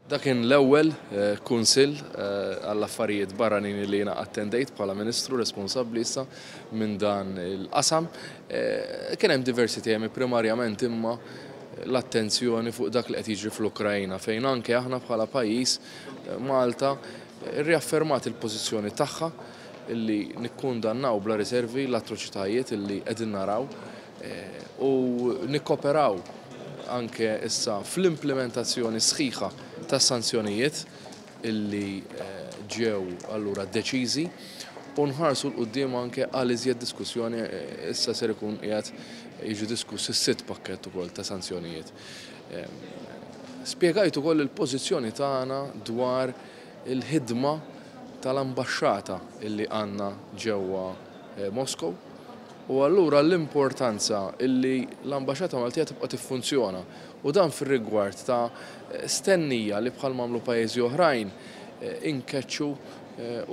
Dak kien l-ewwel Kunsill għall-Affarijiet Barranin li jiena attendejt bħala Ministru responsabbli issa minn dan il-qasam. Kien hemm diversi temi primarjament imma l-attenzjoni fuq dak li qed jiġri fl-Ukraina fejn anke aħna bħala pajjiż Malta rriaffermat il-pożizzjoni tagħha li nikkundannaw bla riservi l-atroċitajiet li qegħdin naraw u nikkoperaw anke issa fl-implimentazzjoni sħiħa tas-sanzjonijiet illi ġew allura deċiżi u nħarsu l quddiem anke għal iżjed diskussjoni issa ser ikun qiegħed jiġi diskuss is-sitt pakkett ukoll ta' sanzjonijiet. Spjegajt ukoll il-pożizzjoni tagħna dwar il-ħidma tal-ambaxxata illi għandna ġewwa Moskow, u allura l-importanza li l-Ambaxxata Maltija tibqa' tiffunzjona u dan fir-rigward ta' stennija li bħalma għamlu pajjiżi oħrajn inkeċċu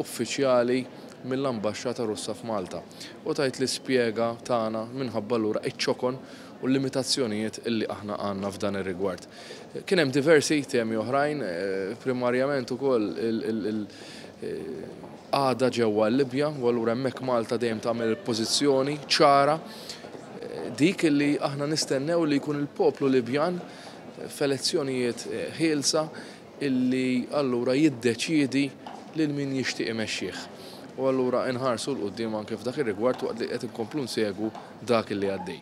uffiċjali mill-Ambaxxata Russa f'Malta u tgħid l-ispjega tagħna minħabba allura iċ-ċokon u l-limitazzjonijiet li aħna għandna f'dan ir-rigward. Kien hemm diversi temi oħrajn, primarjament ukoll Għada ġewwa l-Libja u allura hemmhekk Malta dejjem tagħmel il-pożizzjoni ċara dik li aħna nistennew li jkun il-poplu Libjan f'elezzjonijiet ħielsa illi allura jiddeċiedi lil min jixtieq imexxih. U allura inħarsu l-quddiem anke f'dak ir-rigward waqt li qed inkomplu nsegwu dak illi għaddej.